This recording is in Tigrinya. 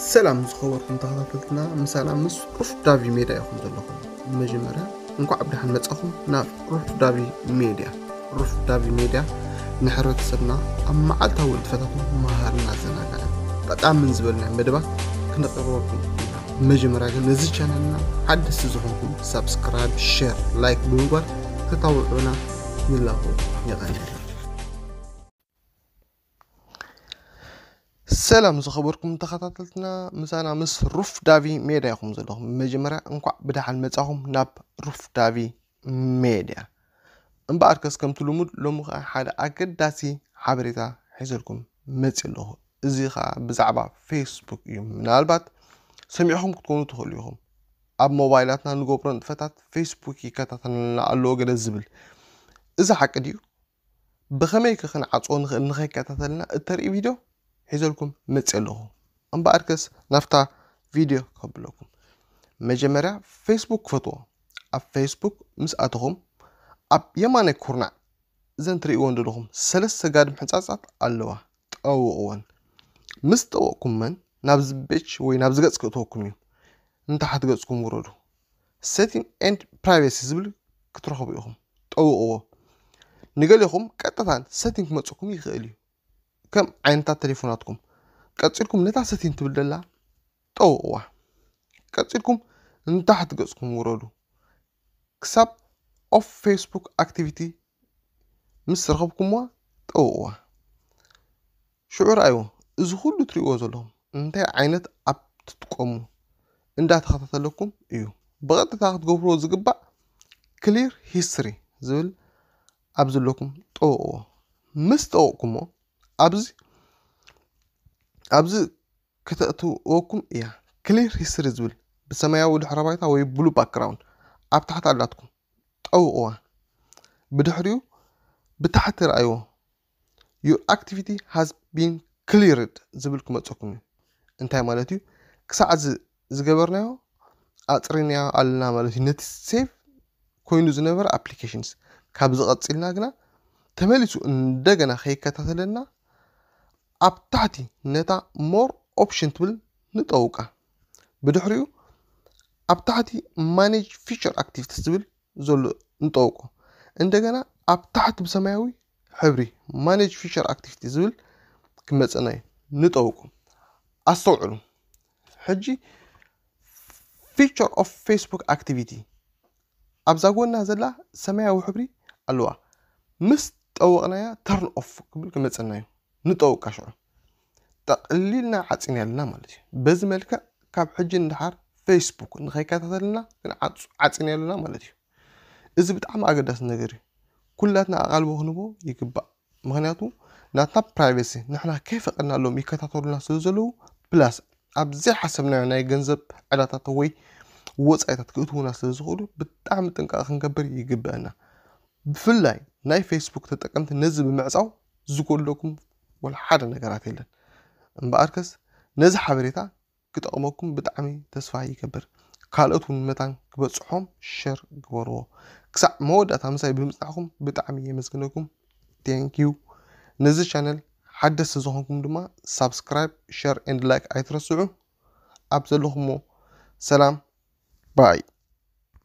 ሰላም ዝኸበርኩም ተኸታተልትና ምሳና ምስ ሩፍ ዳቪ ሜድያ ኢኹም ዘለኹም መጀመርያ እንኳዕ ብድሓን መጻኹም ናብ ሩፍ ዳቪ ሜድያ ሩፍ ዳቪ ሜድያ ንሕብረተሰብና ኣብ መዓልታዊ ንጥፈታት መሃርን ኣዘናጋዕን ጠቃምን ዝበልና መደባት ክነቅርበልኩም ኢና መጀመርያ ግን ነዚ ቻነልና ሓደስቲ ዝኾንኩም ሳብስክራይብ ሸር ላይክ ብምግባር ክታውዑና ንላቦ የቐንልና ሰላም ዝኸበርኩም ተኸታተልትና ምሳና ምስ ሩፍ ዳቪ ሜዳ ይኹም ዘለኹም መጀመርያ እንኳዕ ብደሓን መጻኹም ናብ ሩፍ ዳቪ ሜድያ እምበኣር ከስ ከምቲ ልሙድ ሎሚ ከዓ ሓደ ኣገዳሲ ሓበሬታ ሒዘልኩም መፅ ኣለኹ እዚ ከዓ ብዛዕባ ፌስቡክ እዩ ምናልባት ሰሚዕኹም ክትኮኑ ትኽእሉ ኢኹም ኣብ ሞባይላትና ንገብሮ ንጥፈታት ፌስቡክ ይከታተልና ኣለዎ ገለ ዝብል እዚ ሓቂ ድዩ ብኸመይከ ክንዓጽዎ ንኽእል ንኸይከታተለና እተርኢ ቪድዮ ሒዘልኩም መጽየ ኣለኹ እምበኣርከስ ናብታ ቪድዮ ከብለኩም መጀመርያ ፌስቡክ ክፈትዎ ኣብ ፌስቡክ ምስ ኣተኹም ኣብ የማናይ ኩርናዕ እዘን ትርእይዎን ዘለኹም ሰለስተ ጋድም ሕንጻጻት ኣለዋ ጠውቕወን ምስ ጠወቕኩመን ናብዚ ቤች ወይ ናብዚ ገጽ ክእተወኩም እዩ እንተ ሓት ገጽኩም ውረዱ ሴቲንግ ኤንድ ፕራይቬሲ ዝብል ክትረኽቡ ኢኹም ጠውቕዎ ንገሌኹም ቀጥታ ሰቲንግ ክመፅኩም ይኽእል እዩ ከም ዓይነታት ቴሌፎናትኩም ቀፂልኩም ነታ ሰቲንግ ትብል ደላ ጠውቕዋ ቀፂልኩም ንታሕቲ ገፅኩም ውረዱ ክሳብ ኦፍ ፌስቡክ ኣክቲቪቲ ምስ ረኸብኩምዋ ጠውቕዋ። ሽዑ ርኣይዎ፣ እዚ ኹሉ ትርእይዎ ዘለኹም እንታይ ዓይነት ኣፕ ትጥቀሙ እንዳተኸታተለኩም እዩ። ብቐጥታ ክትገብርዎ ዝግባእ ክሊር ሂስትሪ ዝብል ኣብ ዘለኩም ጠውቕዎ። ምስ ጠውቕኩሞ ኣብዚ ኣብዚ ከተእትወኩም እያ። ክሊር ሂስትሪ ዝብል ብሰማያዊ ድሕረ ባይታ ወይ ብሉ ባክግራውንድ ኣብ ታሕቲ ኣላትኩም። ጠውቕዋ። ብድሕሪኡ ብታሕቲ ርኣይዎ፣ Your activity has been cleared ዝብል ክመጸኩም እዩ። እንታይ ማለት እዩ? ክሳዕ እዚ ዝገበርናዮ ኣጽሪናዮ ኣለና ማለት እዩ። ነቲ ሴቭ ኮይኑ ዝነበረ ኣፕሊኬሽንስ ካብዚ ቀጺልና ግና ተመሊሱ እንደገና ከይከታተለና ኣብ ታሕቲ ነታ ሞር ኦፕሽን ትብል ንጠውቃ። ብድሕሪኡ ኣብ ታሕቲ ማኔጅ ፊቸር ኣክቲቪቲስ ዝብል ዘሎ ንጠውቆ እንደገና ኣብ ታሕቲ ብሰማያዊ ሕብሪ ማኔጅ ፊቸር ኣክቲቪቲ ዝብል ክመፀና እዩ ንጠውቁ ኣስተውዕሉ ሕጂ ፊቸር ኦፍ ፌስቡክ ኣክቲቪቲ ኣብዛ ጎና ዘላ ሰማያዊ ሕብሪ ኣለዋ ምስ ጠወቕናያ ተርን ኦፍ ክብል ክመፀና እዩ ንጠውቃ ሽዑ ጠቕሊልና ዓጺናልና ማለት እዩ። በዚ መልክዕ ካብ ሕጂ ንደሓር ፌስቡክ ንኸይከታተልና ክንዓጹ ዓጺናልና ማለት እዩ። እዚ ብጣዕሚ ኣገዳሲ ነገር እዩ። ኩላትና ኣቓልቦ ክንቦ ይግባእ። ምክንያቱ ናትና ፕራይቬሲ ንሕና ከይፈቐድናሎም ይከታተሉና ስለ ዘለዉ ፕላስ ኣብ ዘይሓሰብናዮ ናይ ገንዘብ ዕዳታት ወይ ወፃኢታት ክእትዉና ስለ ዝኽእሉ ብጣዕሚ ጥንቃቐ ክንገብር ይግበአና። ብፍላይ ናይ ፌስቡክ ተጠቀምቲ ነዚ ብምዕፃው ዝጎድለኩም ወላ ሓደ ነገራት የለን እምበኣርከስ ነዚ ሓበሬታ ክጠቕመኩም ብጣዕሚ ተስፋ ይገብር ካልኦት እውን መታን ክበጽሖም ሸር ግበርዎ ክሳዕ መወዳእታ ምሳይ ብምጽናዕኩም ብጣዕሚ የመስግነኩም ቴንኪዩ ነዚ ቻነል ሓደስቲ ዝኾንኩም ድማ ሳብስክራይብ ሸር ኤንድ ላይክ ኣይትረስዑ ኣብ ዘለኹሞ ሰላም ባይ